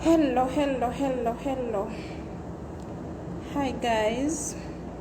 hello hello hello hello hi guys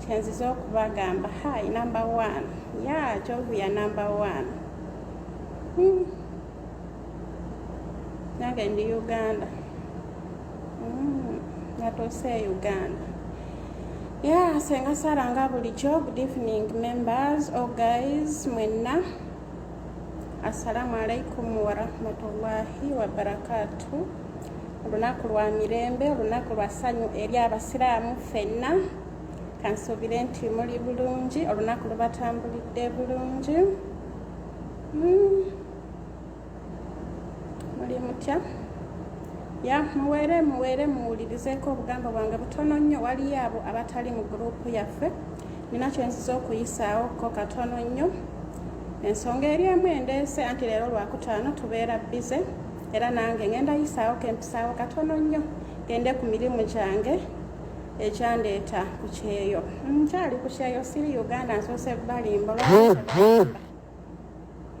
kyenziza okubagamba hai number one ya kyovuya number one hmm. nange ndi uganda hmm. natuuse e uganda ya senga sara nga bulijjo good evening members o oh, guys mwenna assalamu alaikum warahmatullahi wabarakatu olunaku lwa mirembe olunaku lwa ssanyu eri abasiraamu ffenna kansuubire nti muli bulungi olunaku lubatambulidde bulungi hmm. muli mutya ya muweere muweere muwulirizeeko obugamba bwange butono nnyo waliyo abo abatali mu guruupu yaffe nina kyenziza okuyisaawo ko katono nnyo ensonga eri emu endeese anti leero lwakutaano tubeera bize era nange ngenda yisaawo kempisaawo katono nnyo gende ku mirimu gyange ekyandeeta ku kyeyo nkyali ku kyeyo siri uganda nsoose balimba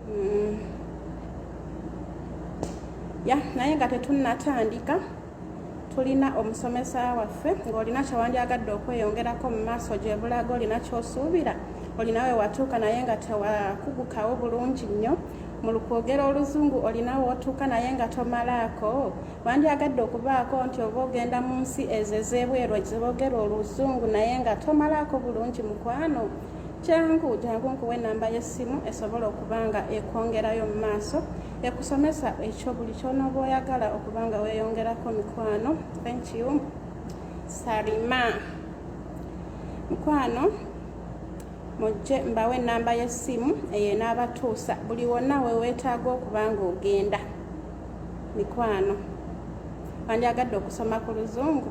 mm. ya naye nga tetunnatandika tulina omusomesa waffe ng'olina kyewandyagadde okweyongerako mu maaso gyebulaga olina kyosuubira olinawe watuuka naye nga tewakugukawo bulungi nnyo mu lukwogera oluzungu olinawe otuuka naye nga tomalaako wandyagadde okubaako nti oba ogenda mu nsi ezo ez'ebweru eziboogera oluzungu naye nga tomalaako bulungi mukwano kyangu jangu nkuwa enamba y'essimu esobola okuba nga ekwongerayo mu maaso ekusomesa ekyo buli kyonooba oyagala okuba nga weeyongerako mikwano enkiu salima mukwano mujje mbawo enamba y'essimu eyo enaabatuusa buli wonna weweetaaga okuba nga ogenda mikwano wandyagadde okusoma ku luzungu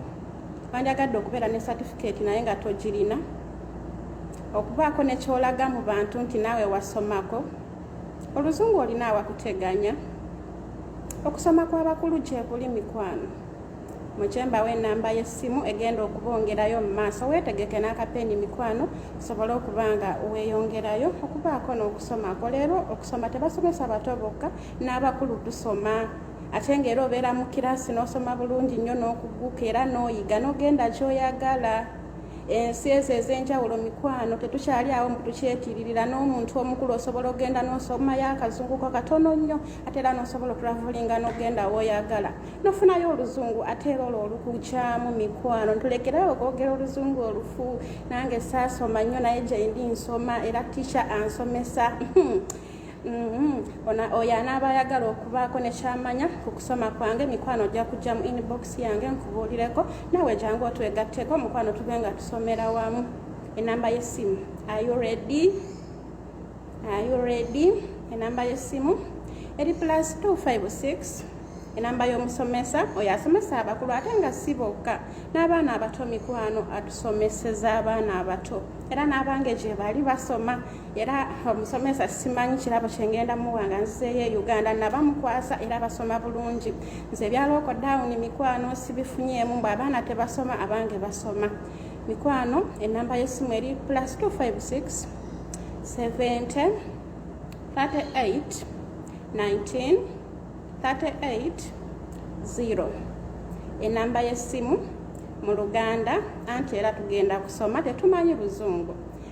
wandyagadde okubeera ne satifikeeti naye nga togirina okubaako nekyolaga mu bantu nti naawe wasomako oluzungu olina awakuteganya okusoma kwabakulu gyebuli mikwano mukyembawo enamba yessimu egenda okubongerayo mu maaso weetegeke n'akapeeni mikwano osobole okuba nga weeyongerayo okubaako n'okusomako leero okusoma tebasomesa bato bokka n'abakulu tusoma ate ngaera obeera mu kiraasi n'osoma bulungi nnyo n'okuguka era n'oyiga n'ogenda kyoyagala ensi ezo ez'enjawulo mikwano tetukyali awo mbu tukyetiiririra n'omuntu omukulu osobola ogenda n'osomayo akazunguko katono nnyo ate era n'osobola okulavulinga n'ogenda woyagala nofunayo oluzungu ate era olwo olukukyamu mikwano ntulekerayo okwogera oluzungu olufu nange saasoma nnyo naye gyendi nsoma era ticha ansomesa Mm-hmm. oyo anaaba ayagala okubaako nekyamanya ku kusoma kwange mikwano ojja kujja mu inbox yange nkubuulireko nawe jangu otwegatteko mukwano tube nga tusomera wamu enamba y'essimu ayuredi ayuredi enamba y'essimu eri plus 256 enamba y'omusomesa oyo asomesa abakulu ate nga si bokka n'abaana abato mikwano atusomeseza abaana abato era n'abange gye bali basoma era omusomesa simanyi kirabo kyengenda muwa nga nzizeeyo e uganda nabamukwasa era basoma bulungi nze ebyalooko dawuni mikwano sibifunyeemu mbu abaana tebasoma abange basoma mikwano enamba yesimu eri plus 256 70 38 19 38 0 enamba yesimu mu luganda anti era tugenda kusoma tetumanyi luzungu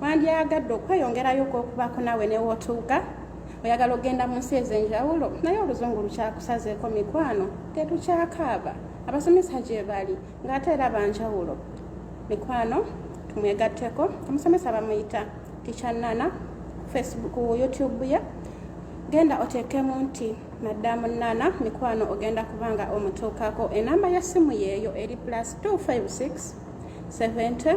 wandyagadde okweyongerayo okwokubaako naawe newootuuka oyagala okugenda mu nsi ez'enjawulo naye oluzungu lukyakusazeeko mikwano tetukyakaaba abasomesa gye bali ng'ate era banjawulo mikwano tumwegatteko omusomesa bamuyita tikyannana facebook youtube ye genda oteekemu nti maddamu nana mikwano ogenda kubanga omutuukako enamba y'essimu yeeyo eri plus 256 70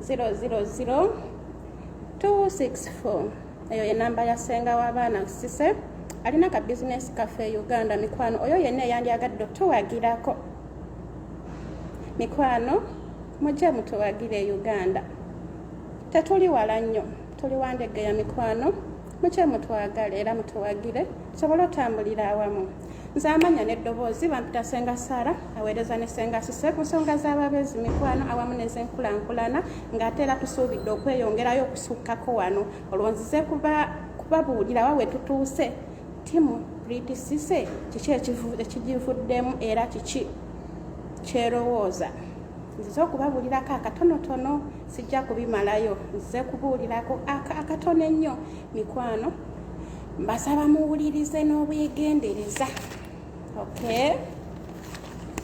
0000264 eyo ye namba ya senga w'abaana sise alina ka bizinesi kaffe e uganda mikwano oyo yenna eyandyagadde otuwagirako mikwano mujje mutuwagire e uganda tetuli wala nnyo tuli wandege ya mikwano mukye mutwagale era mutuwagire tusobole otambulira awamu nze amanya n'eddoboozi bampita senga sara aweereza ne senga sise ku nsonga z'ababeezi mikwano awamu n'ezenkulankulana ng'ate era tusuubidde okweyongerayo okusukkako wano olwo nzize kubabuulira wa we tutuuse timu priti sise kiki ekigivuddemu era kiki kyerowooza nzize okubabuulirako akatonotono sijja kubimalayo nzize kubuulirako akatono ennyo mikwano mbasaba muwulirize n'obwegendereza okay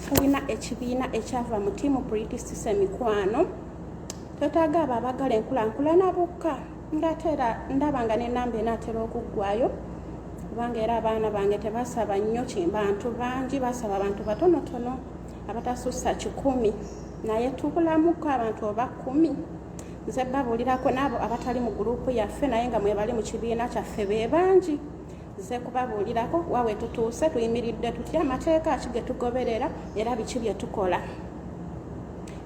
tulina ekibiina ekyava mu tiimu pritisise mikwano twetaaga abo abagala enkulankulana bokka ngaate era ndaba nga nenamba enaatera okuggwayo kubanga era abaana bange tebasaba nnyo kimbantu bangi basaba abantu batonotono abatasussa kikumi naye tubulamuko abantu oba kumi nze babuulirako n'abo abatali mu guruupu yaffe naye nga mwebali mu kibiina kyaffe be bangi nze kubabuulirako wa we tutuuse tuyimiridde tutya amateeka ki ge tugoberera era biki bye tukola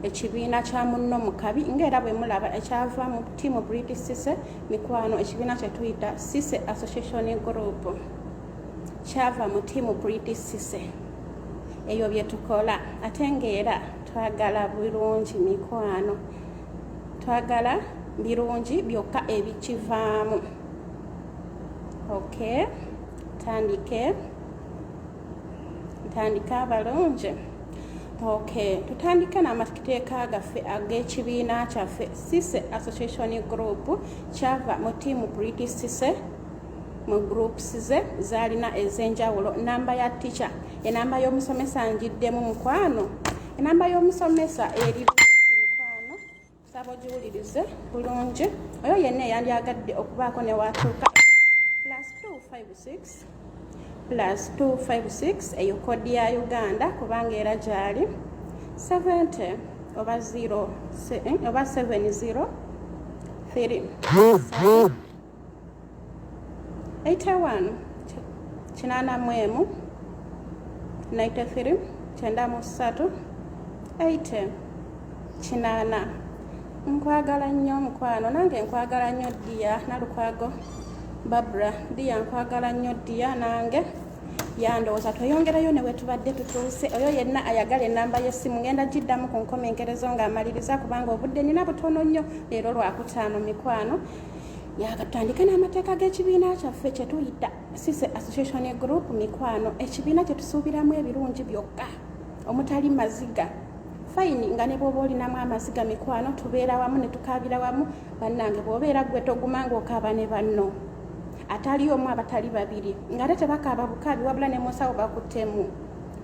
ekibiina kya munno mu kabi ngaera bwe mulaba ekyava mu tiimu british sise mikwano ekibiina kye tuyita sise association group kyava mu tiimu british sise ebyo bye tukola ate ngaera twagala bulungi mikwano twagala birungi byokka ebikivaamu ok tandike ntandike abalungi ok tutandike n'amateeka gaffe ag'ekibiina kyaffe sise association group kyava mu tiimu british sise mu groups ze zalina ezenjawulo namba ya ticha enamba y'omusomesa njiddemu mukwano enamba y'omusomesa eri mukwano saba ogiwulirize bulungi oyo yenna eyandyagadde okubaako newatuuka plus 256 plus 256 eyo kodi ya uganda kubanga era gyali 70 oba 0 eh, oba 70 3 81 kinaana mu emu 93 kyenda mu ssatu 80 kinaana nkwagala nnyo omukwano nange nkwagala nnyo ddiya nalukwago babra ddiya nkwagala nnyo ddiya nange yandowooza tweyongerayo ne wetubadde tutuuse oyo yenna ayagala enamba yessimu ngenda giddamu ku nkomenkerezo ng'amaliriza kubanga obudde nina butono nnyo leero lwakutaano mikwano yakatandika n'amateeka g'ekibiina kyaffe kyetuyita sise association group mikwano ekibiina kyetusuubiramu ebirungi byokka omutali maziga fayini nga ne bwoba olinamu amaziga mikwano tubeera wamu ne tukaabira wamu bannange bwobeera gwe toguma ngaokaaba ne banno atali omu abatali babiri nga ate tebakaaba bukaabi wabula ne musawo bakuttemu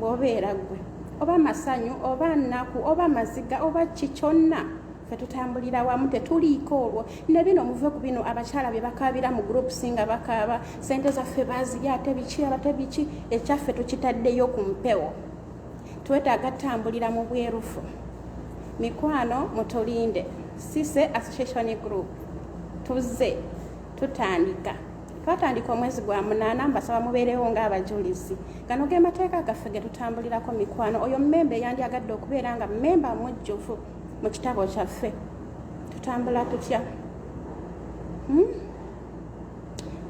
bwobeera gwe oba masanyu oba nnaku oba maziga oba ki kyonna ffe tutambulira wamu tetuliiko olwo ne bino muve ku bino abakyala bye bakaabira mu groups nga bakaaba sente zaffe bazirya ate biki abate biki ekyaffe tukitaddeyo ku mpewo twetaaga tambulira mu bwerufu mikwano mutulinde sise association group tuzze tutandika twatandika omwezi gwa munaana mbasaba mubeerewo ng'abajulizi gano ge mateeka gaffe ge tutambulirako mikwano oyo mmemba eyandyagadde okubeera nga mmemba mujjuvu mu kitabo kyaffe tutambula tutya hmm?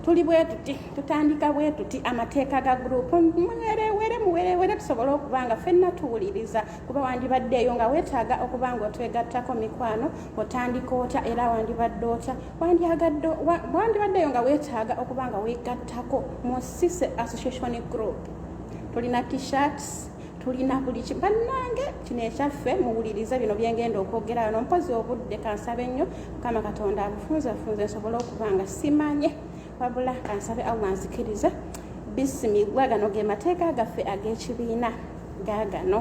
tuli bwe tuti tutandika bwe tuti amateeka ga gurupu muwerewere muwerewere tusobole okuba nga fenna tuwuliriza kuba wandibaddeeyo nga weetaaga okuba nga otwegattako mikwano otandika otya era wandibadde otya wandibaddeeyo nga weetaaga okuba nga weegattako mu sise association group tulina t-shirts tulina buli ki bannange kino ekyaffe muwulirize bino byengenda okwogera wano mpozi obudde kansabe nnyo mukama katonda abufunzafunze nsobole okuba nga simanye wabula kansabe allah nzikirize bisimigwa gano ge mateeka gaffe ag'ekibiina gagano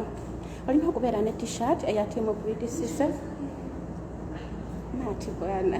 olina okubeera ne t-shirt eya timu british sise maati bwana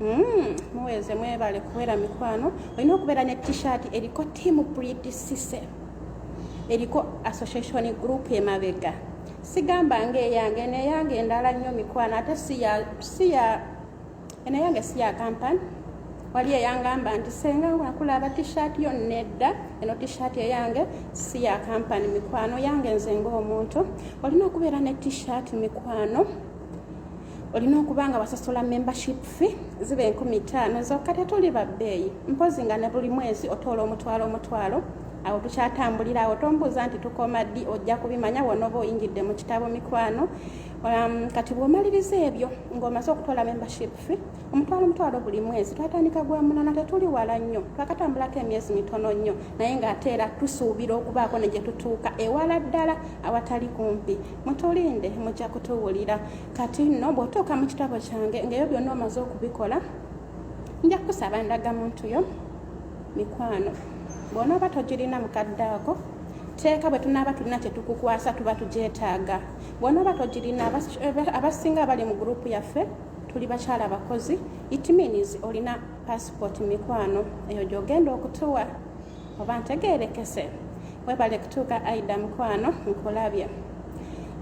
Mm, muweze mwebale kuwera mikwano olina okubeera ne t-shirt eriko team pretty sise eriko association group emabega sigamba nga eyange neyange endala nnyo mikwano ate siya enayange siya kampani wali eyangamba nti senga wakulaba t-shirt yo nedda eno t-shirt eyange siya kampani mikwano yange nze ngaomuntu olina okubeera ne t-shirt mikwano olina okuba nga wasasula membership fee ziba enkumi taano zokka tetuli babbeeyi mpozi nga ne buli mwezi otoola omutwalo omutwalo awo tukyatambulira awo tombuuza nti tukoma ddi ojja kubimanya wona oba oyingidde mu kitabo mikwano um, kati bwomaliriza ebyo ngaomaze okutwala membership fe omutwalo omutwalo buli mwezi twatandika gwa munana tetuli wala nnyo twakatambulako emyezi mitono nnyo naye ng'ate era tusuubira okubaako ne gye tutuuka ewala ddala awatali kumpi mutulinde mujja kutuwulira kati nno bw'otuuka mu kitabo kyange ngaeyo byonna omaze okubikola nja kukusaba ndaga muntu yo mikwano bw'onooba togirina mukadde ako teeka bwe tunaaba tulina kye tukukwasa tuba tugyetaaga bw'onooba togirina abasinga abali mu gurupu yaffe tuli bakyala bakozi it means olina passport mikwano eyo gy'ogenda okutuwa oba ntegeerekese webale kutuuka aida mukwano nkulabye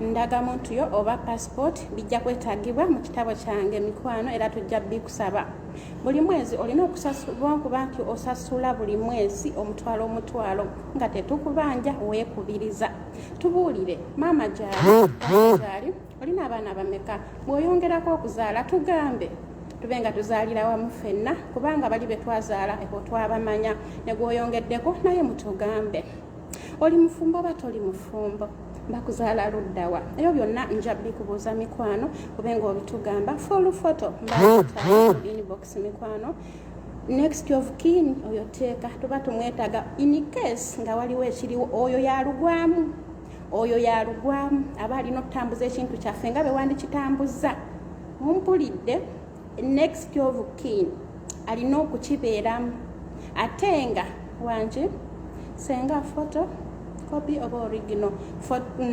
ndaga muntu yo oba passport bijja kwetagibwa mu kitabo kyange mikwano era tujja bikusaba buli mwezi olina okusasulwa kuba nti osasula buli mwezi omutwalo omutwalo nga tetukubanja weekubiriza tubuulire maama gyali olina abaana bameka bw'oyongerako okuzaala tugambe tube nga tuzaalira wamu ffenna kubanga bali be twazaala eko twabamanya ne gw'oyongeddeko naye mutugambe oli mufumbo oba toli mufumbo bakuzaala luddawa ebyo byonna nja bikubuuza mikwano kube nga obitugamba full photo inbox mikwano next of kin oyo teeka tuba tumwetaga in case nga waliwo ekiriwo oyo yalugwamu oyo yalugwamu aba alina okutambuza ekintu kyaffe nga bewandikitambuzza mumpulidde next of kin alina okukibeeramu ate nga wangi senga foto copy oba origino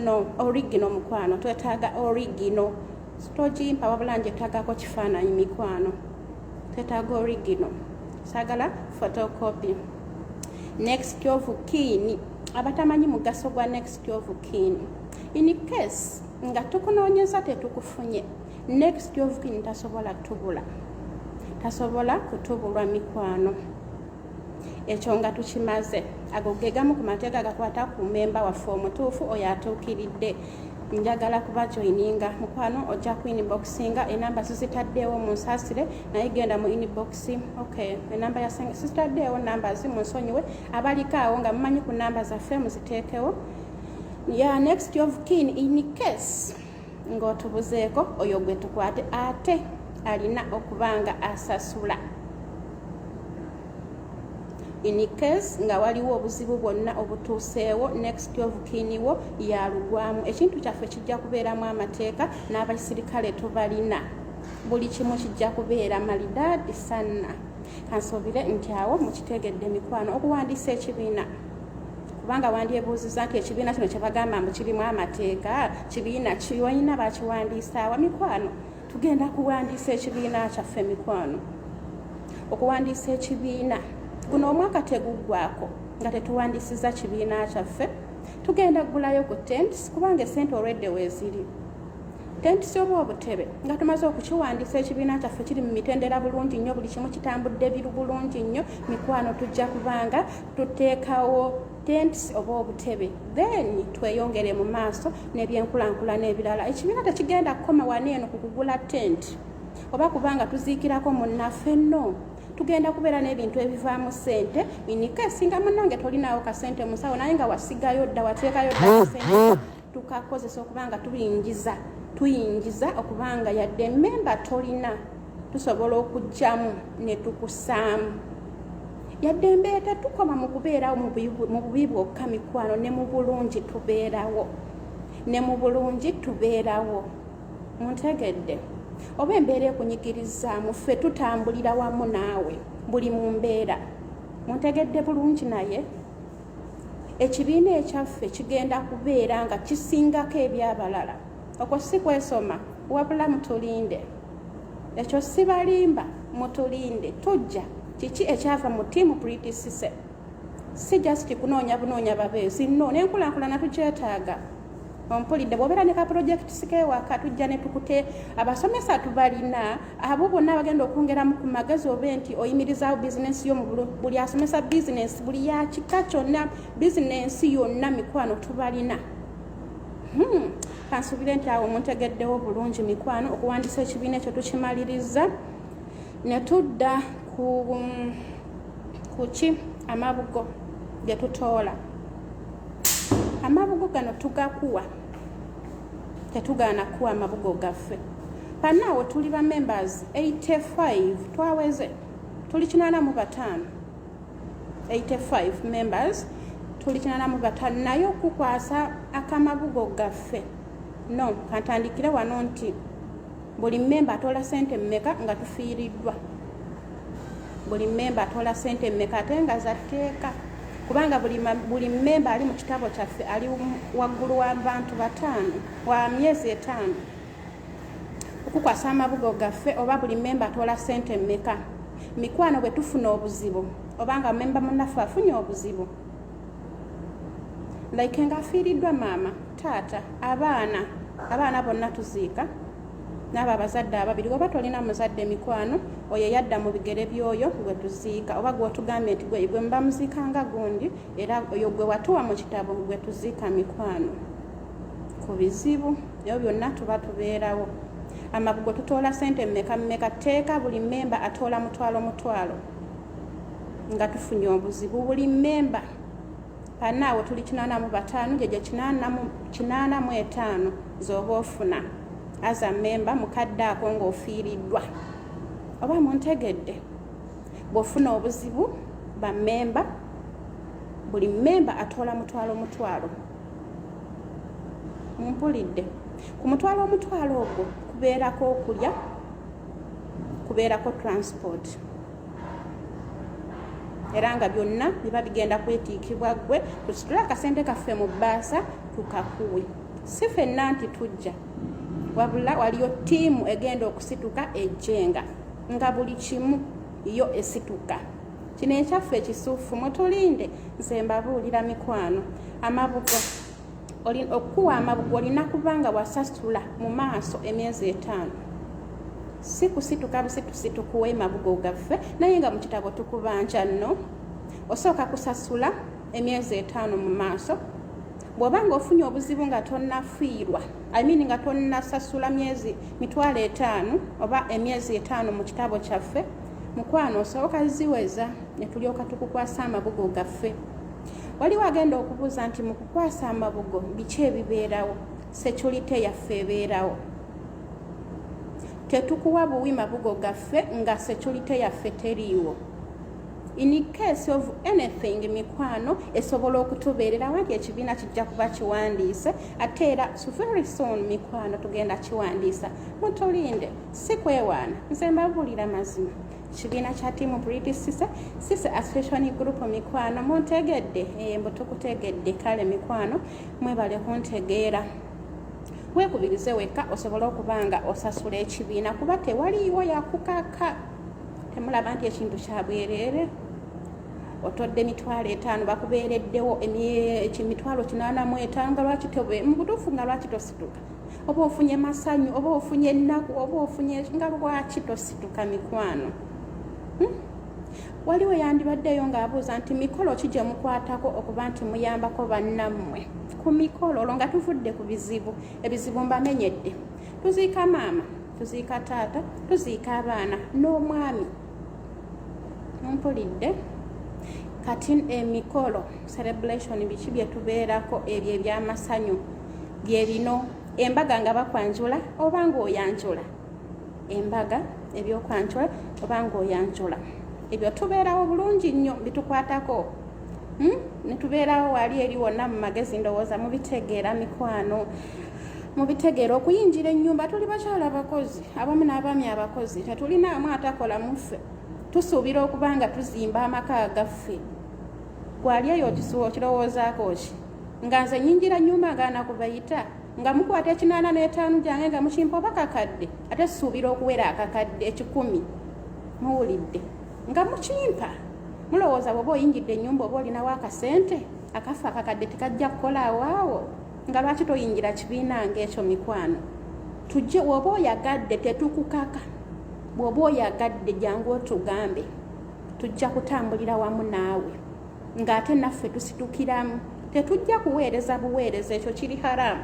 no origino mukwano twetaaga origino sitogimpa wabula njetagako kifaananyi mikwano twetaaga origino sagala photocopy next of kin abatamanyi mugaso gwa next of kin in case nga tukunoonyeza tetukufunye next of kin tasobola tubula tasobola kutubulwa mikwano ekyo nga tukimaze ago ge gamu ku mateeka gakwata ku memba waffe omutuufu oyo atuukiridde njagala kuba joininga mukwano ojja ku inboxinga enamba sizitaddeewo munsasire naye genda mu inbox ok enamba yasenge sizitaddeewo namba zi munsonyiwe abaliko awo nga mumanyi ku namba zaffe muziteekewo ya next of kin in case ng'otubuzeeko oyo gwe tukwate ate alina okuba nga asasula in case nga waliwo obuzibu bwonna obutuuseewo next of kiniwo yalugwamu ekintu kyaffe kijja kubeeramu amateeka n'abasirikale tubalina buli kimu kijja kubeera malidaadi sanna kansuubire nti awo mukitegedde mikwano okuwandiisa ekibiina kubanga wandyebuuziza nti ekibiina kino kyebagamba mbu kirimu amateeka kibiina kiolina bakiwandiisaawa mikwano tugenda kuwandiisa ekibiina kyaffe mikwano okuwandiisa ekibiina guno omwaka teguggwako nga tetuwandiisiza kibiina kyaffe tugenda kugulayo ku tents kubanga esente olwedde weeziri tents oba obutebe nga tumaze okukiwandiisa ekibiina kyaffe kiri mu mitendera bulungi nnyo buli kimu kitambudde biru bulungi nnyo mikwano tujja kubanga tuteekawo tents oba obutebe then tweyongere mu maaso nebyenkulankulana ebirala ekibiina tekigenda kukoma wani eno ku kugula tent oba kubanga tuziikirako munnaffe no tugenda kubeera n'ebintu ebivaamu sente inika esinga munange tolinawo kasente musawo naye nga wasigayo dda wateekayo dda tukakozesa okuba nga tubingiza tuyingiza okuba nga yadde memba tolina tusobola okugyamu netukusaamu yadde embeera tetukoma mu kubeerawo mu bubi bwokka mikwano ne mu bulungi tubeerawo ne mu bulungi tubeerawo muntegedde oba embeera ekunyigirizaamu ffe tutambulira wamu naawe buli mu mbeera muntegedde bulungi naye ekibiina ekyaffe kigenda kubeera nga kisingako ebyabalala okwo si kwesoma wabula mutulinde ekyo sibalimba mutulinde tujja kiki ekyava mu tiimu pritisise si just kunoonya bunoonya babeezi no nenkulakulana tukyetaaga ompulidde bwobeera ne ka project sikewaka tujja netukute abasomesa tubalina abo bonna abagenda okwongeramu ku magezi obe nti oyimirizaawo bizinensi yo buli asomesa bizinensi buli yakika kyonna bizinensi yonna mikwano tubalina hmm. kansubire nti awo muntegeddewo bulungi mikwano okuwandisa ekibiina ekyo tukimaliriza netudda ku um, kuki amabugo getutoola amabugo gano tugakuwa tetugaana kuwa amabugo gaffe panaawo tuli ba members 85 twaweze tuli kinana mu bataano 85 members tuli kinana mu bataano naye okukwasa akamabugo gaffe no kantandikire wano nti buli mmemba atoola sente mmeka nga tufiiriddwa buli mmemba atoola sente mmeka ate nga zatteeka kubanga buli mmemba ali mu kitabo kyaffe ali waggulu wa bantu bataano wa myezi etaano okukwasa amabugo gaffe oba buli mmemba atoola sente mmeka mikwano bwe tufuna obuzibu obanga mmemba munaffe afunye obuzibu like nga afiiriddwa maama taata abaana abaana bonna tuziika n'abo abazadde ababiri oba tolina muzadde mikwano oyo yadda mu bigere by'oyo gwe tuziika oba gwotugambye nti gwe gwe muba muziika nga gundi era oyo gwe watuwa mu kitabo gwe tuziika mikwano ku bizibu ebyo byonna tuba tubeerawo amabugo tutoola sente mumeka mumeka teeka buli mmemba atoola mutwalo mutwalo nga tufunye obuzibu buli mmemba Bannaawe tuli kinaana mu bataano gye gye kinaana mu etaano z'oba ofuna aza mmemba mukadde ako ng'ofiiriddwa oba muntegedde bw'ofuna obuzibu bammemba buli mmemba atoola mutwalo mutwalo mumpulidde ku mutwalo omutwalo ogwo kubeerako okulya kubeerako transport era nga byonna biba bigenda kwetiikibwa ggwe tusitule akasente kaffe mu bbaasa tukakuwe si fenna nti tujja wabula waliyo ttiimu egenda okusituka ejjenga nga buli kimu yo esituka kino ekyaffe ekisuufu mutulinde nze mbabuulira mikwano amabugo okukuwa amabugo olina kuba nga wasasula mu maaso emyezi etaano si kusituka busitusi tukuwa emabugo gaffe naye nga mu kitabo tukubanja nno osooka kusasula emyezi etaano mu maaso bw'oba nga ofunye obuzibu nga tonnafiirwa imean nga tonnasasula myezi mitwalo etaano oba emyezi etaano mu kitabo kyaffe mukwano osooka ziweza ne tulyoka tukukwasa amabugo gaffe waliwo agenda okubuuza nti mu kukwasa amabugo biki ebibeerawo securite yaffe ebeerawo tetukuwa buwi mabugo gaffe nga securite yaffe teriiwo in case of anything mikwano esobola okutubeererawo nti ekibiina kijja kuba kiwandiise ate era very soon mikwano tugenda kiwandiisa mutulinde si kwewaana nze mbabuulira mazima kibiina kya tiimu briti sise sise association group mikwano muntegedde eh, mbu tukutegedde kale mikwano mwebale kuntegeera weekubirize wekka osobole okuba nga osasula ekibiina kuba tewaliiwo yakukaka temulaba nti ekintu kyabwereere otodde emitwalo etaano bakubeereddewo emitwalo kinaana mu etaano nga lwaki tobe mu butuufu nga lwaki tosituka oba ofunye masanyu oba ofunye ennaku oba ofunye nga lwaki tosituka mikwano hmm? waliwo yandibaddeyo ng'abuuza nti mikolo ki gye mukwatako okuba nti muyambako bannammwe ku mikolo olwo nga tuvudde ku bizibu ebizibu mbamenyedde tuziika maama tuziika taata tuziika abaana n'omwami mpulidde kati emikolo celebration biki byetubeerako ebyo ebyamasanyu byebino embaga nga bakwanjula oba ngaoyanjula embaga ebyokwanjula oba ngaoyanjula ebyo tubeerawo bulungi nnyo bitukwatako hmm? netubeerawo wali eri wonna mu magezi ndowooza mubitegeera mikwano mubitegeera okuyingira ennyumba tuli bakyala abakozi abamu n'abaami abakozi tetulinaamu atakola muffe tusuubira okuba nga tuzimba amaka agaffe gwali eyo okisuwa okirowoozaako ki nga nze nyingira nyumba nga nakubayita nga mukwata ekinaana n'etaanu gyange nga mukimpa oba kakadde ate susuubira okuwera akakadde ekikumi muwulidde nga mukimpa mulowooza bwoba oyingidde ennyumba oba olinawo akasente akafa akakadde tekajja kukola awaawo nga lwaki toyingira kibiina ngaekyo mikwano tujje woba oyagadde tetukukaka bwoba oyagadde jangu otugambe tujja kutambulira wamu naawe ngaate naffe tusitukiramu tetujja kuweereza buweereza ekyo kiri haramu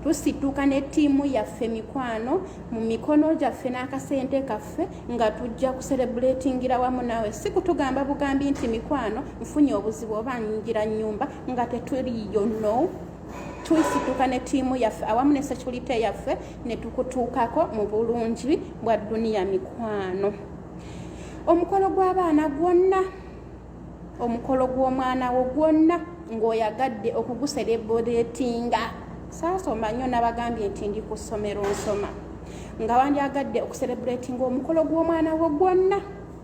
tusituka ne ttiimu yaffe mikwano mu mikono gyaffe n'akasente kaffe nga tujja kuserebuletingira wamu naawe si kutugamba bugambi nti mikwano nfunye obuzibu oba nyingira nyumba nga tetuliyo no tuisituka ne tiimu yaffe awamu ne securite yaffe ne tukutuukako mu bulungi bwa duniya mikwano omukolo gw'abaana gwonna omukolo gw'omwana wo gwonna ng'oyagadde okuguserebuletinga saasoma nnyo nabagambye nti ndi ku ssomero nsoma nga wandyagadde okuserebuletinga omukolo gw'omwana wo gwonna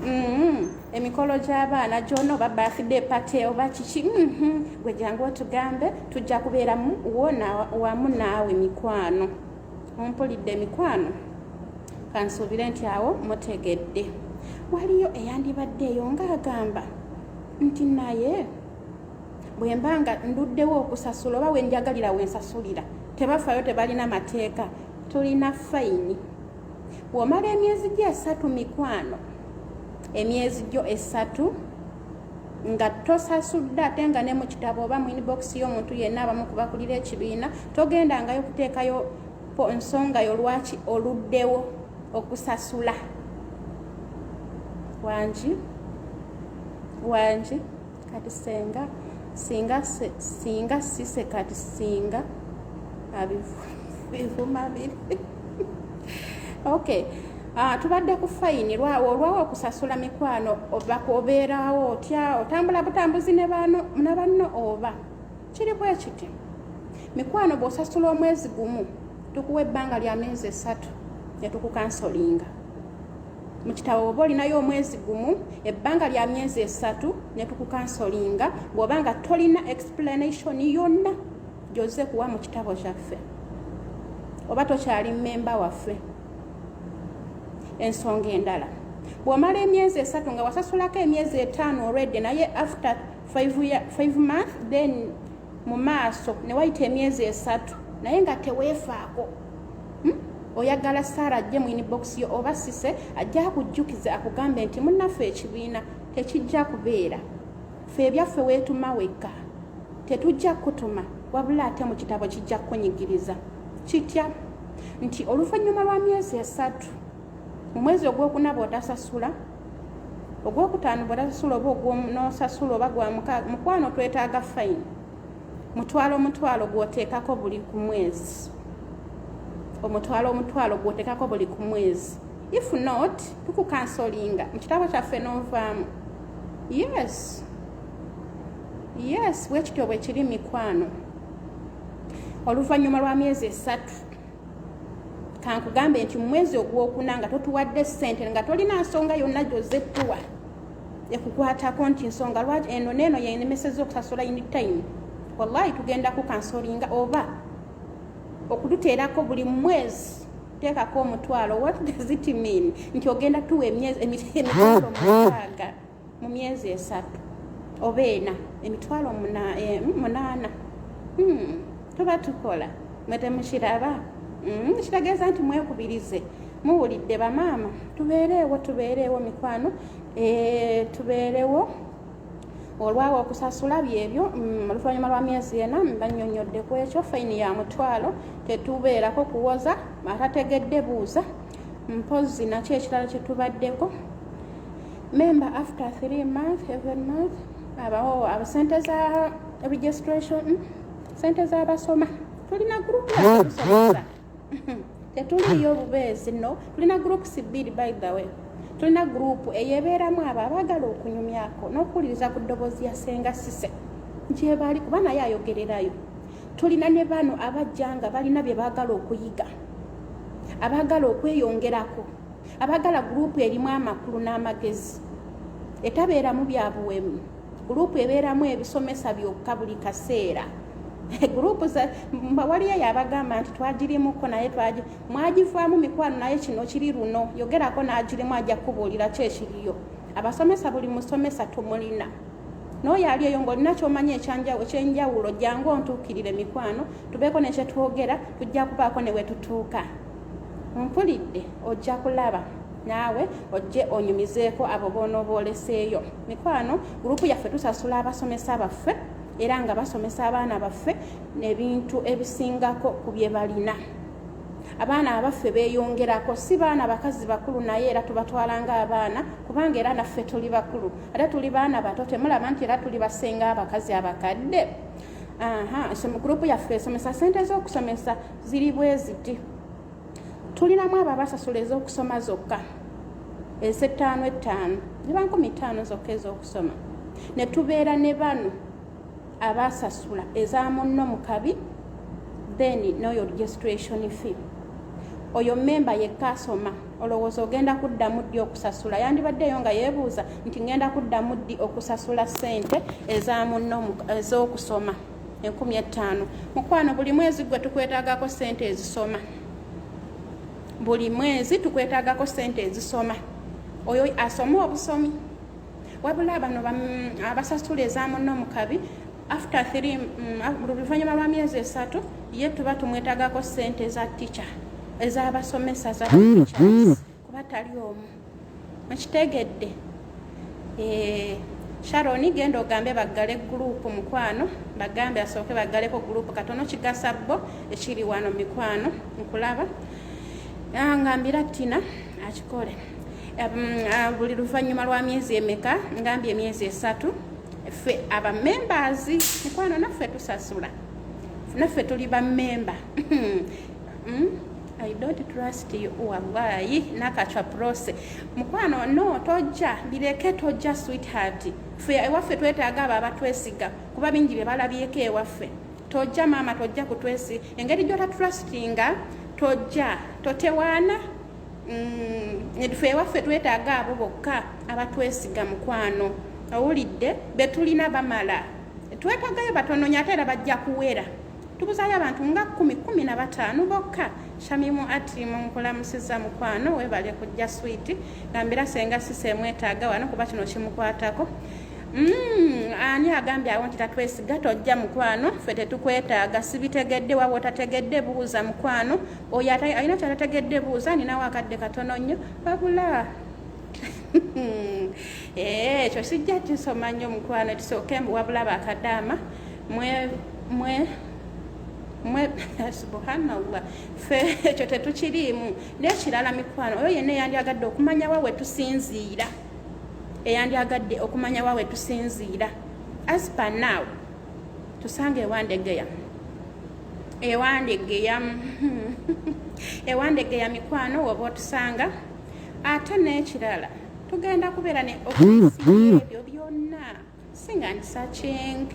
Mm-hmm. emikolo gy'abaana gyona oba birthday party oba kiki mm-hmm. gwe jangu otugambe tujja kubeeramu wona wamu naawe mikwano ompulidde mikwano kansuubire nti awo mutegedde waliyo eyandibadde eyo ng'agamba nti naye bwe mba nga nduddewo okusasula oba wenjagalira wensasulira tebafayo tebalina mateeka tulina fayini womala emyezi gyo esatu mikwano emyezi gyo esatu nga tosasudde ate nga ne mu kitabo oba mu inbox y'omuntu yenna abamu kubakulira ekibiina togendangayo kuteekayo nsonga yo lwaki oluddewo okusasula wangi wangi kati senga singa singa sise kati singa abivuma biri okay Ah, tubadde ku fayini lwawo olwawo okusasula mikwano obeerawo otya otambula butambuzi ne banno oba kiri bwe kiti mikwano bw'osasula omwezi gumu tukuwa ebbanga lya myezi esatu ne tukukansolinga mu kitabo oba olinayo omwezi gumu ebbanga lya myezi esatu ne tukukansolinga bw'oba nga tolina explanation yonna gyoze kuwa mu kitabo kyaffe oba tokyali mmemba waffe ensonga endala bw'omala emyezi esatu nga wasasulako emyezi etaano olwedde naye after five month then mu maaso ne wayita emyezi esatu naye nga teweefaako oyagala saara ajje mu inbox yo oba sise ajja akujjukiza akugambe nti munnaffe ekibiina tekijja kubeera fe ebyaffe weetuma wekka tetujja kukutuma wabula ate mu kitabo kijja kukunyigiriza kitya nti oluvannyuma lwa myezi esatu mu mwezi ogwokuna bwotasasula ogwokutaano bwotasasula oba ogwonosasula oba gwa mukwano twetaaga fayini mutwalo omutwalo gwoteekako buli ku mwezi omutwalo omutwalo gwoteekako buli ku mwezi if not tukukansolinga mu kitabo kyaffe novaamu yes yes bwekityo bwekiri mikwano oluvannyuma lwa myezi esatu kankugambe nti mumwezi ogwokuna nga totuwadde sente nga tolina nsonga yonna gyozettuwa ekukwatako nti nsonga lwaki eno neeno yenemeseza okusasula in time wallahi tugenda kukansolinga oba okututeerako buli mwezi teekako omutwalo what does it mean nti ogenda tuwa emitwalo mukaaga mu myezi esatu oba ena emitwalo eh, munaana hmm, tuba tukola mwetemushiraba hmm, kirageeza nti mwekubirize muwulidde bamaama tubeereewo tubeereewo mikwano eh, tubeerewo olwawo okusasula byebyo mm, oluvannyuma lwa myezi ena banyonyodde ku ekyo fayini ya mutwalo tetubeerako kuwoza atategedde buuza mpozi nakyo ekirala kyetubaddeko member after three month every month abawo abo sente za registration mm, sente z'abasoma tulina gurupu yasomesa tetuliyo bubeezi no tulina groups bbiri by the way tulina gurupu eyebeeramu abo abaagala okunyumyako n'okuwuliriza ku ddoboozi ya senga sise gyebali kuba naye ayogererayo tulina ne bano abajja nga balina bye baagala okuyiga abaagala okweyongerako abaagala gurupu erimu amakulu n'amagezi etabeeramu byabuwemu gurupu ebeeramu ebisomesa byokka buli kaseera gurupu mbawaliyo yabagamba nti twagirimuko naye mwagivaamu mikwano naye kino kiri luno yogerako n'agirimu ajja kukubuulira ki ekiriyo abasomesa buli musomesa tumulina n'oyo ali eyo ng'olina kyomanya ekyenjawulo jangu ontuukirire mikwano tubeeko nekyetwogera tujja kubaako ne wetutuuka mpulidde ojja kulaba naawe ojje onyumizeeko abo boonoba oleseeyo mikwano gurupu yaffe tusasula abasomesa baffe era nga basomesa abaana baffe nebintu ebisingako ku bye balina abaana abaffe beyongerako si baana bakazi bakulu naye era tubatwala nga abaana kubanga era naffe tuli bakulu ate tuli baana bato temulaba nti era tuli basenga abakazi abakadde aha so mu gurupu yaffe esomesa sente z'okusomesa ziri bweziti tulinamu abo abasasula ez'okusoma zokka ezettaano ettaano ziba nkumi ttaano zokka ez'okusoma ne tubeera ne bano abasasula eza munno mu kabi then n'oyo registration fee oyo memba yekka asoma olowooza ogenda kuddamu ddi okusasula yandibaddeeyo nga yeebuuza nti ngenda kuddamu ddi okusasula ssente eza munno ez'okusoma enkumi ettaano mukwano buli mwezi gwe tukwetagako sente ezisoma buli mwezi tukwetagako sente ezisoma oyo asoma obusomi wabula bano abasasula ezamunno mukabi after three mm, ah, luvanyuma lwa myezi esatu ye tuba tumwetagako sente za ticha ezabasomesa za kuba tali omu mukitegedde eh, sharon genda ogambe baggale gurupu mukwano bagambe asooke baggaleko gurupu katono kigasa bo ekiri wano mikwano nkulaba ah, ngambira tina akikole um, ah, buli luvannyuma lwa myezi emeka ngambye emyezi esatu ffe abamembazi mikwano naffe tusasula naffe tuli bamemba mm? I don't trust you wallahi nakachwa prose mukwano no tojja bireke tojja sweetheart fe ewaffe twetaaga abo abatwesiga kuba bingi bye balabyeko ewaffe tojja maama tojja kutwesi engeri gyota trustinga tojja totewaana mm, fe ewaffe twetaaga abo bokka abatwesiga mukwano owulidde betulina bamala twetagayo batononya ate era bajja kuwera tubuzayo abantu nga kumi kumi na bataano bokka shamimu ati munkulamusiza mukwano webale kujja switi gambira senga sisa emwetaaga wano kuba kino kimukwatako mm, ani agambye awo nti tatwesiga tojja mukwano fe tetukwetaaga sibitegedde waba otategedde buuza mukwano oyo alina kyatategedde buuza ninawo akadde katono nnyo wabula eh, ekyo sijja kisoma nnyo mukwano kisooke mbuwabula bakadaama mwe mwe mwe subhanallah fe ekyo tetukiriimu n'ekirala mikwano oyo yenna eyandyagadde okumanya wa we tusinziira eyandyagadde okumanya wa we tusinziira as per now tusange ewandegeya ewandegeya ewandegeya mikwano woba otusanga ate n'ekirala tugenda kubeera ne ebyo byonna singa ndi searching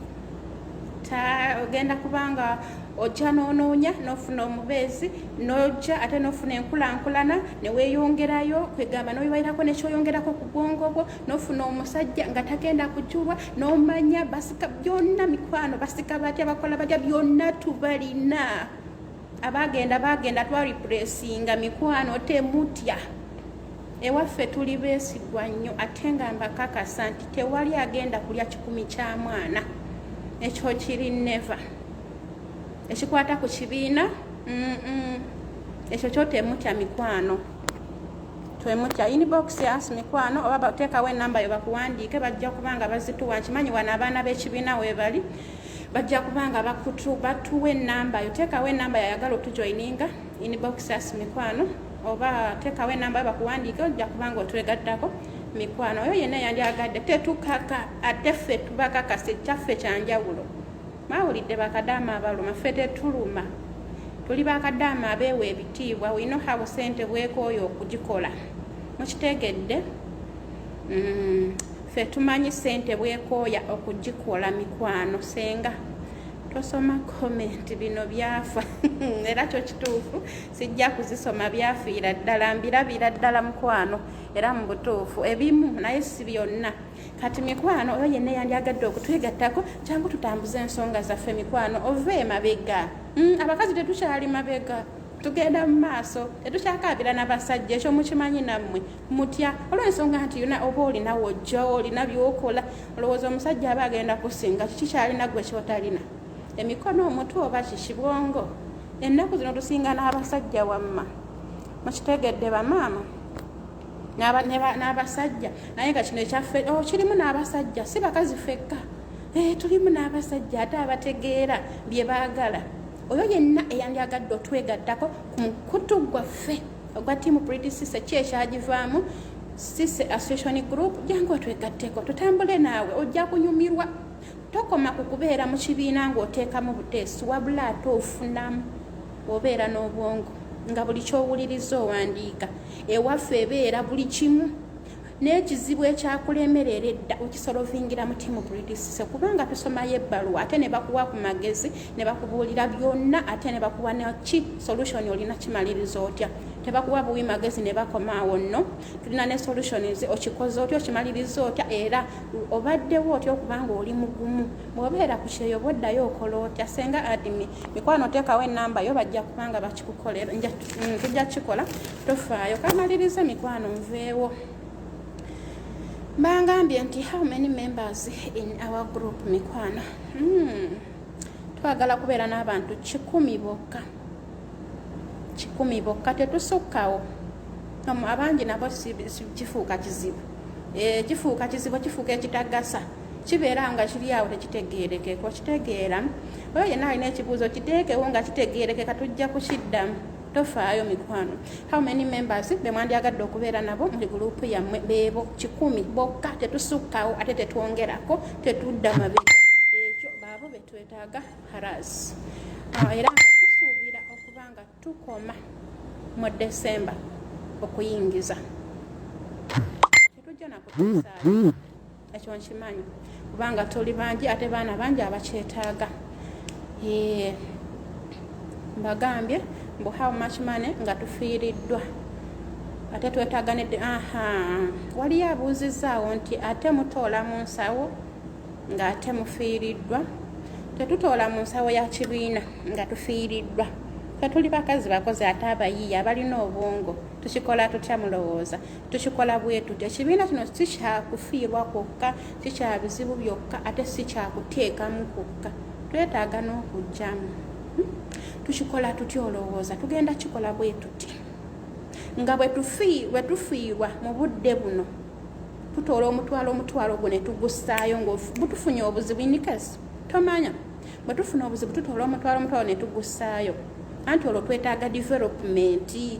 ta ogenda kubanga ojja n'onoonya n'ofuna omubeezi n'ojja ate n'ofuna enkulankulana ne weeyongerayo kwegamba n'obibalirako nekyoyongerako ku bwongo bwo n'ofuna omusajja nga tagenda kujulwa n'omanya basika byonna mikwano basika batya bakola batya byonna tubalina abagenda bagenda twaripulesinga mikwano temutya ewaffe tuli beesigwa nnyo ate nga mbakakasa nti tewali agenda kulya kikumi kya mwana ekyo kiri neva ekikwata ku kibiina ekyo kyo temutya mikwano twemutya inbox as mikwano oba bateekawo enamba yo bakuwandiike bajja kubanga bazituwa nkimanyi wano abaana b'ekibiina weebali bajja kubanga bakutu batuwa enamba yo teekawo enamba yayagala otujoininga inbox as mikwano oba teekawo enamba bakuwandiike ojja kubanga otwegattako mikwano oyo yenna yandyagadde tetukaka ate ffe tubakakasa ekyaffe kyanjawulo mawulidde bakadaama abaluma ffe tetuluma tuli bakadaama abeewa ebitiibwa wino habo sente bwekooyo okugikola mukitegedde mm. ffe tumanyi sente bwekooya okugikola mikwano senga tosoma komenti bino byafa era kyo kituufu sijja kuzisoma byafiira ddala mbirabira ddala mukwano era mu butuufu ebimu naye si byonna kati mikwano oyo yenna yandyagadde okutwegattako kyangu tutambuze ensonga zaffe mikwano ova emabega mm, abakazi tetukyali mabega tugenda mu maaso tetukyakaabira na basajja ekyo mukimanyi nammwe mutya olwensonga nti yona oba olina wojja olina byokola olowooza omusajja aba agenda kusinga kiki kyalina gwe kyotalina emikono omutu oba kiki bwongo ennaku zino tusinga n'abasajja wamma mukitegedde bamaama n'abasajja naye nga kino ekyaffe oh, kirimu n'abasajja si bakazi fekka eh, tulimu n'abasajja ate abategeera bye baagala oyo yenna eyandyagadde otwegattako ku mukutu gwaffe ogwa tiimu bridi sise ki ekyagivaamu sise association group jangu otwegatteko tutambule naawe ojja kunyumirwa tokoma ku kubeera mu kibiina ng'oteekamu buteesi wabula ate ofunamu obeera n'obwongo nga buli kyowuliriza owandiika ewaffe ebeera buli kimu n'ekizibu ekyakulembera era edda okisolovingira mu tiimu bridisise kubanga tusomayo ebbaluwa ate ne bakuwa ku magezi ne bakubuulira byonna ate ne bakuwa naki solution olina kimaliriza otya tebakuwa buwi magezi ne bakomaawo nno tulina ne solutions okikoze otya okimaliriza otya era obaddewo otya okubanga oli mugumu bwobeera ku kyeyo boddayo okola otya senga adimi mikwano oteekawo enamba yo bajja kubanga bakikukolera mm, tujja kikola tofaayo kamalirize mikwano nveewo bangambye nti how many members in our group mikwano hmm. twagala kubeera n'abantu kikumi bokka kikumi bokka tetusukkawo abangi nabo kifuuka kizibu eh, kifuuka kizibu kifuuka ekitagasa kibeera nga kiri awo tekitegeerekeka okitegeera oyo yenna alina ekibuuzo kiteekewo nga kitegeerekeka tujja kukiddamu tofaayo mikwano how many members bemwandyagadde okubeera nabo muli gulupu yammwe beebo kikumi bokka tetusukkawo ate tetwongerako tetudda mabega ekyo baabo betwetaaga haras ah, era nga tusuubira okuba nga tukoma mu desemba okuyingiza tetujja nakutusaayo ekyo nkimanyi kubanga tuli bangi ate baana bangi abakyetaaga mbagambye mbu how much money nga tufiiriddwa ate twetaaga nedde aha waliyo abuuzizzaawo nti ate mutoola mu nsawo nga ate mufiiriddwa tetutoola mu nsawo ya kibiina nga tufiiriddwa tetuli bakazi bakozi ate abayiiya abalina obwongo tukikola tutya mulowooza tukikola bwetutyo ekibiina kino si kyakufiirwa kwokka si kya bizibu byokka ate si kyakuteekamu kwokka twetaaga n'okujjamu hmm? tukikola tutya olowooza tugenda kikola bwetuti nga bwetufiirwa mu budde buno tutoola omutwalo omutwalo gwo netugusaayo nga butufunye obuzibu inikes tomanya bwe tufuna obuzibu tutoola omutwalo omutwalo netugusaayo anti olwo twetaaga developmenti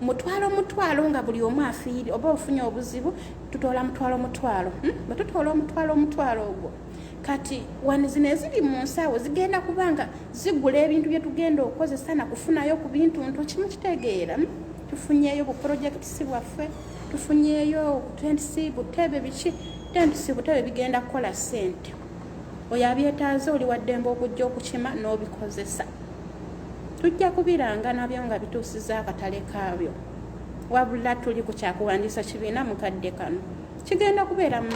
mutwalo mutwalo nga buli omu afiiri oba ofunye obuzibu tutoola mutwalo mutwalo hmm? bwe tutoola omutwalo omutwalo ogwo kati wani zino eziri mu nsawo zigenda kuba nga zigula ebintu bye tugenda okukozesa na kufunayo ku bintu ntu kimu kitegeera hmm? tufunyeyo bu projekitisi bwaffe tufunyeyo tentisi butebe biki tentisi butebe bigenda kukola sente oyo abyetaaze oli waddembe okujja okukima n'obikozesa tujja kubiranga nabyo nga bituusiza akatale kaabyo wabula tuli ku kyakuwandiisa kibiina mu kadde kano kigenda kubeera mu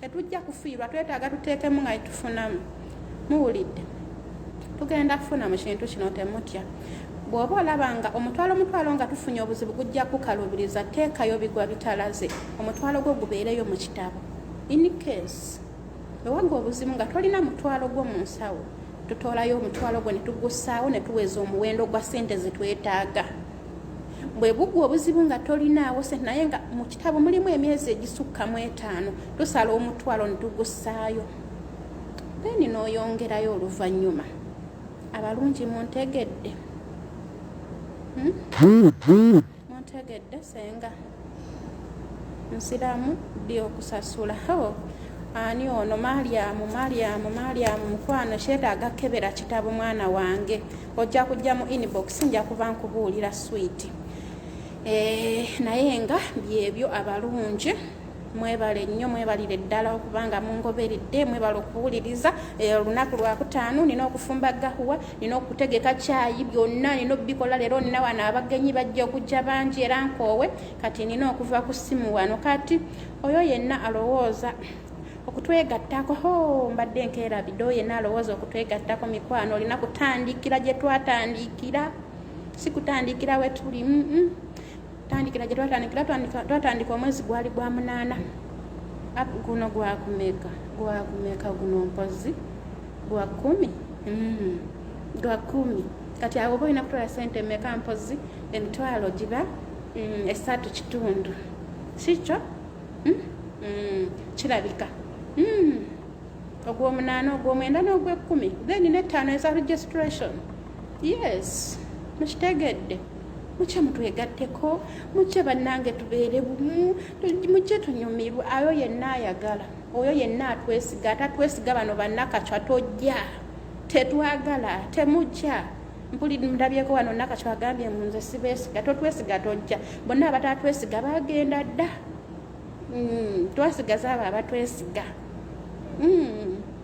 tetujja kufiirwa twetaaga tuteekemu nga tufunamu muwulidde tugenda kufuna mu kintu kino temutya bw'oba olaba nga omutwalo omutwalo nga tufunye obuzibu gujja kukalubiriza teekayo bigwa bitalaze omutwalo gwo gubeereyo mu kitabo in case ewaga obuzibu nga tolina mutwalo gwo mu nsawo tutoolayo omutwalo gwe netugussaawo netuweza omuwendo gwa sente zetwetaaga bwe bugwa obuzibu nga tolinaawo sente naye nga mu kitabo mulimu emyezi egisukka mu etaano tusala omutwalo netugussaayo then n'oyongerayo oluvannyuma abalungi muntegedde hmm? muntegedde senga nsiramu ddi okusasula oh, ani ono malyamu malyamu malyamu mukwano kyetaaga kebera kitabo mwana wange ojja kujja mu inbox nja kuba nkubuulira swiiti eh, naye nga byebyo abalungi mwebale nnyo mwebalire ddala okubanga mungoberedde mwebale okuwuliriza eh, olunaku lwakutaano nina okufumba gahuwa nina okutegeka kyayi byonna nina obikola leero nina wano abagenyi bajja okujja bangi era nkoowe kati nina okuva ku ssimu wano kati oyo yenna alowooza okutwegattako ho mbadde enkeera bido yenna alowooza okutwegattako mikwano olina kutandikira gye twatandikira si kutandikira we tuli mm -mm. tandikira gye twatandikira twatandika omwezi gwali gwa munaana guno gwakumeka gwakumeka guno mpozi gwa kumi mm-hmm. gwa kumi kati awo oba olina kutwala sente emeka mpozi emitwalo giba mm, esatu kitundu kikyo mm? mm, kirabika ogwomunaana ogwomwenda n'ogwekkumi then nettaano eza registration yes mukitegedde mukye mutwegatteko mukye bannange tubeere bumu mukye tunyumirwe ayo yenna ayagala oyo yenna atwesiga atatwesiga bano bannakacwa tojja tetwagala temujja mpulidde ndabyeko wano nakacwa agambye mu nze sibeesiga totwesiga tojja bonna abatatwesiga bagenda dda hmm, twasigaza abo abatwesiga hmm.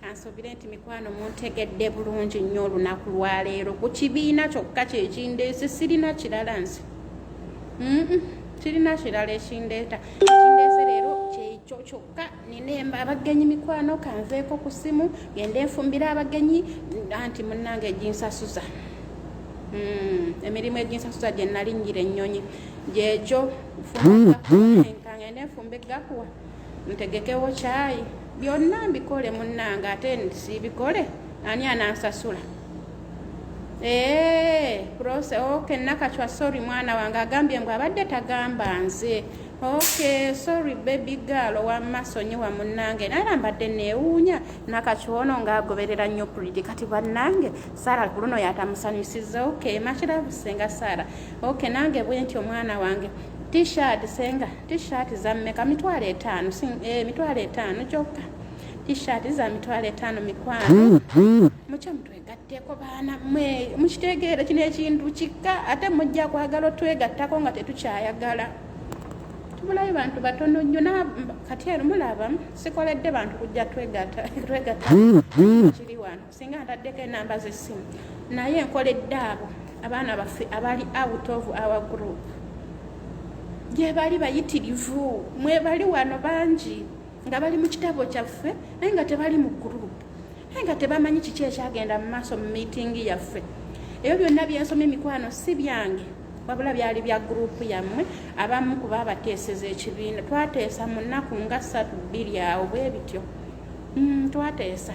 kansuubire nti mikwano muntegedde bulungi nnyo olunaku lwaleero ku kibiina kyokka kyekindeese sirina kirala nsi kirina kirala ekindeeta ekindeese leero kyekyo kyokka nina emba abagenyi mikwano kanveeko ku simu gende nfumbire abagenyi anti munnange eginsasuza hmm, emirimu eginsasuza gye nali nnyira ennyonyi gyekyo nfumbe gakuwa ntegekewo kyayi byonna mbikole munnange ate siibikole ani anansasula eh, prose oke nakacwa sorry mwana wange agambye ngu abadde tagamba nze oke sorry baby gal owamma sonyiwa munnange nayera mbadde neewuunya nakacwono ngaagoberera nnyo pridi kati bannange sara kuluno yatamusanyusiza oke makirabusenga sara oke nange bwenti omwana wange T-shirt senga, T-shirt za mmeka? Mitwalo etaano, eh, mitwalo etaano kyokka. T-shirt za mitwalo etaano mikwano. Mukya mutwegatteko baana mwe, mukitegeera kino ekintu kikka ate mujja kwagala otwegattako nga tetukyayagala. Tubulayo bantu batono nnyo na kati eno mulaba sikoledde bantu kujja twegatta twegatta kiri wano. singa ntaddeko enamba z'essimu naye nkoledde abo abaana baffe abali out of our group gyebali bayitirivu mwebali wano bangi nga bali mu kitabo kyaffe naye nga tebali mu group naye nga tebamanyi kiki ekyagenda mu maaso mu meeting yaffe ebyo byonna byensoma emikwano si byange wabula byali bya group yammwe abamu kuba abateeseza ekibiina twateesa mu nnaku nga ssatu bbiri awo bwe bityo mm, twateesa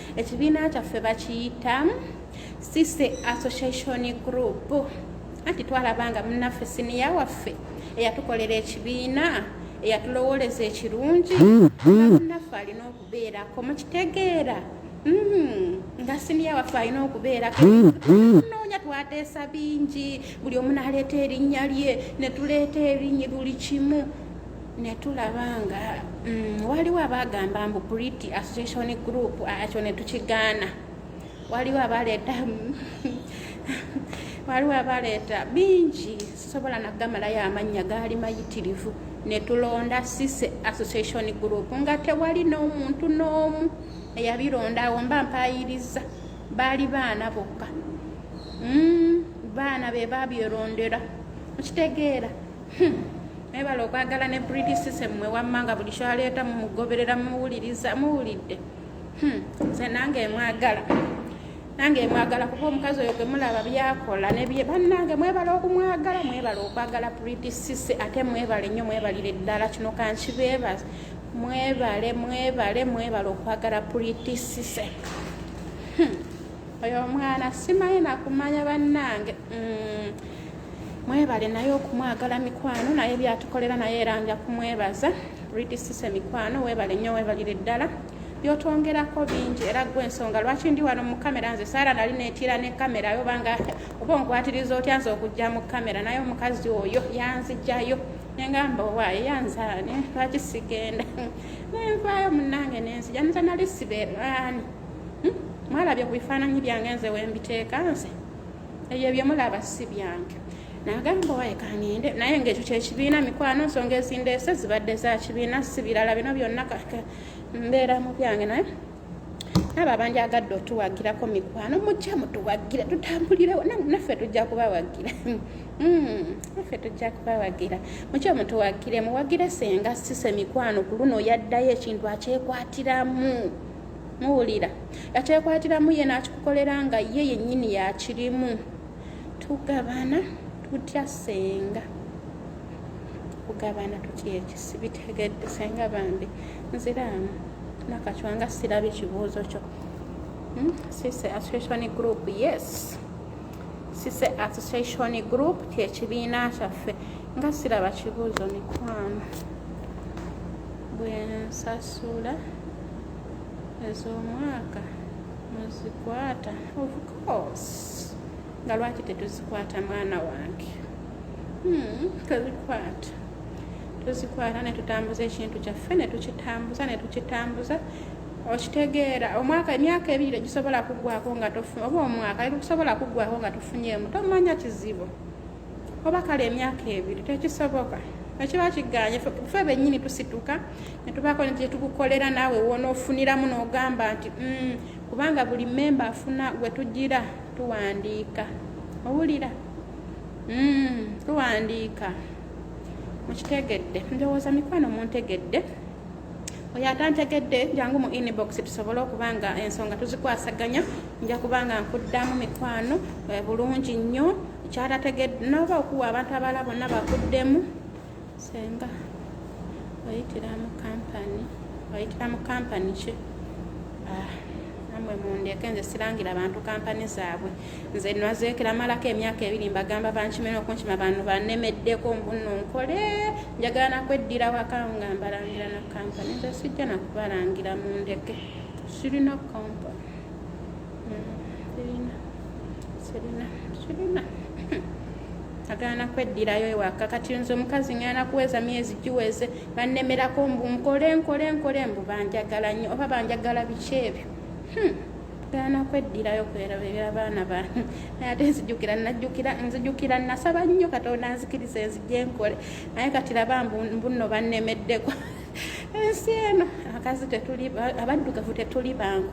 ekibiina kyaffe bakiyita sise association group anti twalaba nga munaffe siniya waffe eyatukolera ekibiina eyatulowoleza ekirungi munaffe alina okubeerako mukitegeera Mm-hmm. nga siniya waffe alina okubeerako noonya twateesa bingi buli omu naleeta erinnya lye netuleeta erinnya buli kimu ne tulaba nga mm, waliwo abagamba mbu pretty association group akyo ne tukigaana waliwo abaleeta waliwo abaleeta bingi sobola nagamalayo amannya gaali mayitirivu ne tulonda sise association group nga tewali n'omuntu n'omu eyabironda awo mba mpayiriza baali baana bokka mm, baana be babyerondera okitegeera Hmm. Mwebale okwagala ne British system mwe wammanga buli kyaleeta mumugoberera mumuwuliriza muwulidde hmm. nze nange mwagala nange mwagala kuba omukazi oyo gwe mulaba byakola nebye bannange mwebale okumwagala mwebale okwagala British system ate mwebale nnyo mwebalire ddala kino kankibeebaza mwebale mwebale mwebale okwagala British system hmm. oyo omwana simanyi nakumanya bannange mm. mwebale naye okumwagala mikwano naye byatukolera naye era nja kumwebaza ridisise mikwano webale nnyo webalire ddala byotwongerako bingi era gwe ensonga lwaki ndi wano mu kamera nze saara nali netiira ne kamera yo banga oba onkwatiriza otya nze okujja mu kamera naye omukazi oyo yanzijayo nengamba owaaye yanzaane lwaki sigenda nenvaayo munange nenzija nze nali sibeeraani hmm? mwalabye ku bifaananyi byange nze wembiteeka nze ebyo byemulaba si byange nagamba waye kangende naye ngaekyo kyekibiina mikwano nsonga ezindeese zibadde zakibiina si birala bino byonna mbeera mu byange naye abo abanjagadde otuwagirako mikwano mujja mutuwagira tutambulirewo naffe tujja kubawagira hmm, naffe tujja kubawagira mukyo mutuwagire muwagire senga sise mikwano ku luno yaddayo ekintu akyekwatiramu muwulira yakyekwatiramu ye n'akikukolera nga ye yennyini yakirimu tugabana tutya senga kugabana tutya ekisi bitegedde senga bambi nziraamu nakacwa nga sirabi kibuuzo kyo hmm? sise association group yes sise association group kyekibiina kyaffe nga siraba kibuuzo mikwano bwensasula ez'omwaka muzikwata of course nga lwaki tetuzikwata mwana wange hmm, tuzikwata tuzikwata netutambuza ekintu kyaffe netukitambuza netukitambuza okitegeera omwaka emyaka ebiri tegisobola kuggwako nga tofunye oba omwaka eri kusobola kuggwako nga tufunyeemu tomanya kizibu oba kale emyaka ebiri tekisoboka ekiba kiganye fe benyini tusituka netubaako nti kyetukukolera naawe wonoofuniramu n'ogamba nti mm, kubanga buli memba afuna gwe tugira tuwandiika owulira mm, tuwandiika mukitegedde ndowooza mikwano muntegedde oyo atantegedde jangu mu inbox tusobole okuba nga ensonga tuzikwasaganya nja kuba nga nkuddamu mikwano eh, bulungi nnyo kyatategedde noba okuwa abantu abala bonna bakuddemu senga oyitira mu kampani oyitira mu kampani ki ah, namwe mundeeke nze sirangira bantu kampani zaabwe nze nwazeekera malako emyaka ebiri mbagamba bankime nokunkima bantu banemeddeko mbuno nkole njagala nakweddira wakawo nga mbalangira na kampani nze sijja nakubalangira mu ndeke sirina kampa hmm, sirina sirina sirina agana nakweddirayo ewaka kati nze omukazi ngana nakuweza myezi giweze banemerako mbu nkole nkole nkole mbu banjagala nnyo oba banjagala biki ebyo hmm. gaana kweddirayo kwerabirira baana ba naye ate nzijukira najukira nzijukira nasaba nnyo katonda nzikiriza enzijja enkole naye kati laba mbunno bannemeddeko ensi eno akazi tetuli abaddugavu tetuli bangu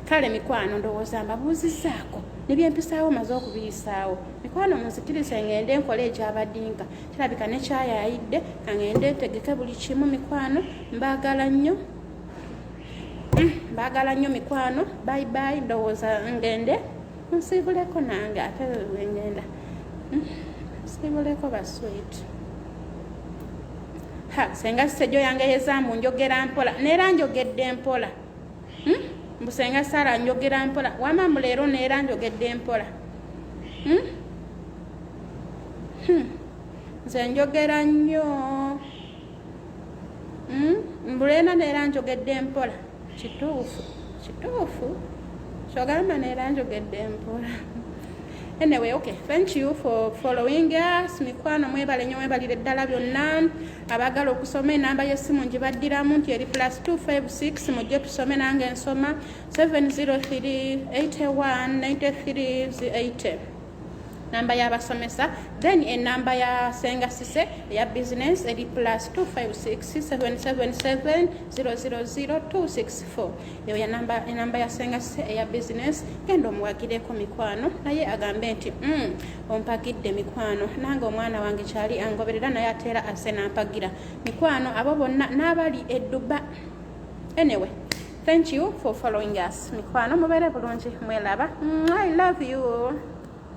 kale mikwano ndowooza mbabuuzizaako nebyempisaawo maze okubiyisaawo mikwano munzikirize ngende enkola ekyabadinka kirabika nekyayayidde kangende etegeke buli kimu mikwano mbaagala nnyo bagala nnyo mikwano bayi bayi ndowooza ngende nsiibuleko nange ate wengenda hmm, nsiibuleko baswit ha senga sisejo yange yezamu njogera mpola neera njogedde mpola hmm, mbu senga sara njogera mpola wamamu leero neera njogedde mpola hmm, nze njogera nnyo hmm? mbulena neera njogedde empola kituufu kituufu kyogamba neera njogedde empola anyway okay thank you for following us mikwano mwebale nyo mwebalire ddala byonna abagala okusoma enamba yesimu ngibaddiramu nti eri plus 256 mujje tusome nange nsoma 703 81 93 80 namba y'abasomesa then enamba ya senga sise eya business eri plus 256777000264 eyo enamba ya senga sise eya business genda omuwagireko mikwano naye agambe nti mm, ompagidde mikwano nange omwana wange kyali angoberera naye ateera ase nampagira mikwano abo bonna n'abali edduba anyway thank you for following us mikwano mubere bulungi mwelaba i love you